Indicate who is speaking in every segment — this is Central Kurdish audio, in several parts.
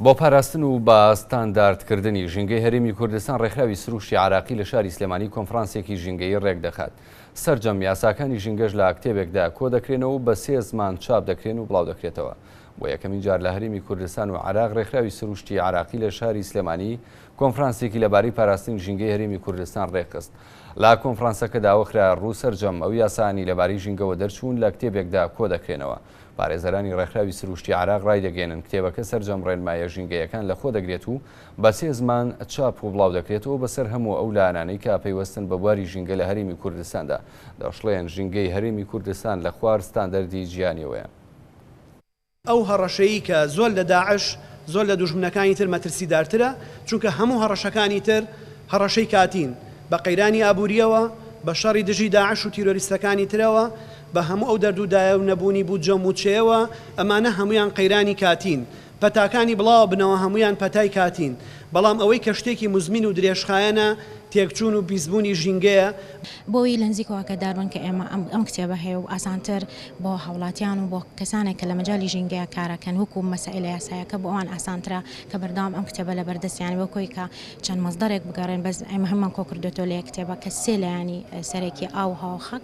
Speaker 1: بۆ پاراستن و بە ستانداردکردنی ژینگەی هەرێمی کوردستان ڕێکخراوی سروشتی عراقی لە شاری سلێمانی کۆنفرانسێکی ژینگەی ڕێکدەخات سرجەم یاساکانی ژینگەش لە کتێبێکدا کۆ دەکرێنەوە بە سێ زمان چاپ دەکرێن و بڵاو دەکرێتەوە بۆ یەکەمین جار لە هەرێمی کوردستان و عراق ڕێکخراوی سروشتی عراقی لە شاری سلێمانی کۆنفرانسێکی لەبارەی پاراستنی ژینگەی هەرێمی کوردستان ڕێکخست لە کۆنفرانسەکە داوەخرا ڕوو سرجەم ئەو یاسانی لەبارەی ژینگەوە دەرچوون لە کتێبێکدا کۆ دەکرێنەوە پارێزەرانی ڕێکخراوی سرووشتی عێراق ڕایدەگەیەنن، کتێبەکە سەرجەم ڕێنماییە ژینگەیەکان لەخۆ دەگرێت و بە سێ زمان چاپ و بڵاودەکرێتەوە بەسەر هەموو ئەو لایەنانەی کە پەیوەستن بە بواری ژینگە لە هەرێمی کوردستاندا دەشڵێن، ژینگەی هەرێمی کوردستان لە خوار ستاندەردی جیهانییەوەیە. ئەو هەڕەشەی کە زۆر لە داعش، زۆر لە دوژمنەکانی تر مەترسیدارترە، چونکە هەموو هەڕەشەکانی تر هەڕەشەی کاتین، بە قەیرانی ئابوورییەوە، بە شەڕی دژی داعش و تیرۆریستەکانی ترەوە، بە هەموو ئەو دەرد و دایە و نەبوونی بودجە و مووچەیەوە، ئەمانە هەموویان قەیرانی کاتین. پەتاکانی بڵاوە بنەوە هەموویان پەتای کاتین. بەڵام ئەوەی کە شتێکی موزمین و درێژخایەنە، تێکچوون و پیسبوونی ژینگەیە. بۆی لە نزیکەوە ئاگادار بن کە ئێمە ئەم کتێبە هەیە و ئاسانتر بۆ هاوڵاتیان و بۆ کەسانێک کە لە مەجالی ژینگەیە کارەکەن وەکوو مەسائیلە یاسایەکە بۆ ئەوان ئاسانترە کە بەردەوام ئەم کتێبە لە بەردەستیان بێ و کۆی کە چەند مەسدەرێک بگەڕێن بەس ئێمە هەموومان کۆ کردۆتەوە لە یەک کتێبە کە سێ لایەنی سەرەکیە، ئاو، هەوا و خاک.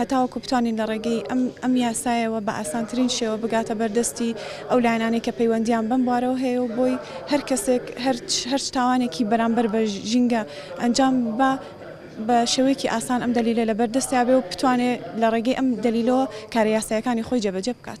Speaker 1: هەتاوەکو بتوانین لە ڕێگەی ئەم ئەم یاسایەوە بە ئاسانترین شێوە بگاتە بەر دەستی ئەو لایەنانەی کە پەیوەندیان بەم بوارەوە هەیە و بۆی هەر کەسێک هەر هەرچ تاوانێکی بەرامبەر بە ژینگە ئەنجام با بە شێوەیەکی ئاسان ئەم دەلیلە لە بەر دەستیا بێ و بتوانێ لە ڕێگەی ئەم دەلیلەوە کارە یاسایەکانی خۆی جێبەجێ بکات.